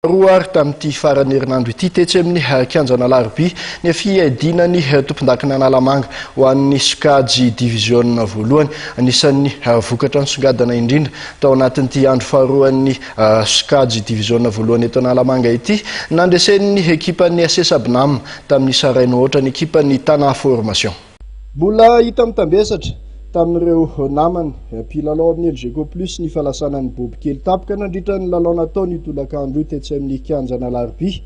Faharoa ary tamin'ity faran'ny herinandro ity, tetsy amin'ny kianjan'Alarobia, ny fiadiana ny tompondakin'Analamanga ho an'ny sokajy diviziona voalohany. Anisan'ny vokatra nisongadina indrindra tao anatin'ity andro faharoan'ny sokajy diviziona voalohany eto Analamanga ity, nandresen'ny ekipan'ny SS Abnam tamin'ny Sarain'Ohaotra ny ekipan'ny Tana Formation. Mbola hita mitambesatra tamin'ireo namany mpilalao amin'ny Elgeco Plus ny falasanan'i Boby Kely Tapika nandritra ny lalao natao ny tolakandro io tetsy amin'ny kianjan'ny Alarobia.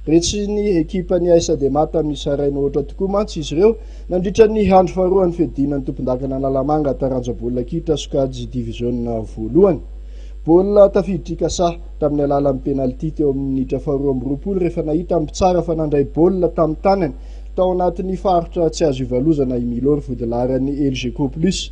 Retsin'ny ekipan'ny AS Adema tamin'ny Saraina Ohatra tokoa mantsy izy ireo nandritra ny andro faharoan'ny fiadiana ny tompondakana Analamanga taranja baolina kitra sokajy diviziona voalohany. Baolina tafiditry Kasa tamin'ny alalan'ny penalty teo amin'ny minitra faharoa amby roapolo rehefa nahita ny mpitsara fa nandray baolina tamin'ny tanany Tao anatin'ny faritra tsy azo ivalozana i Milo ry vodilaharan'ny Elgeco Plus.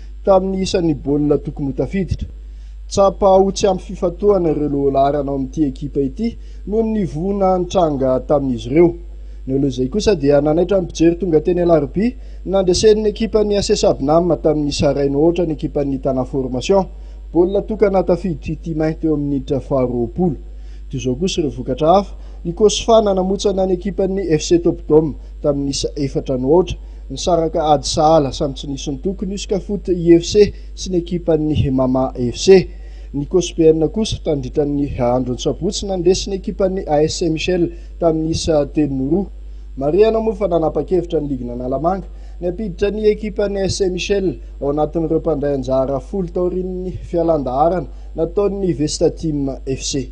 tamin'ny isan'ny baolina tokony ho tafiditra. Tsapa ho tsy ampy fifantohana ireo lohalaharana ao amin'ity ekipa ity noho ny voina nitranga tamin'izy ireo. Ny alohan'izay kosa dia nanaitra ny mpijery tonga teny Alarobia nandresen'ny ekipan'ny AC Sabnam tamin'ny Sarain Oatra ny ekipan'ny Tana Formation. Baolina tokana tafiditry Timain teo amin'ny minitra faharoapolo. Toy izao kosa ireo vokatra hafa, ny Cosfa nanamotsana ny ekipan'ny FC Top Dome tamin'ny isa efatra no aotra, Nisaraka ady sahala samy tsy nisy nitoky ny Usca Foot IFC sy ny ekipan'ny Mama FC. Ny Cosbn kosa tandritran'ny andron'ny sabotsy nandresy ny ekipan'ny AS Saint Michel tamin'ny isa telo no roa. Marihana moa fa nanapa-kevitra ny ligin'Analamanga ny hampiditra ny ekipan'ny AS Saint Michel ao anatin'ireo mpandray anjara folo taorian'ny fialan-daharana nataon'ny Vestateam FC.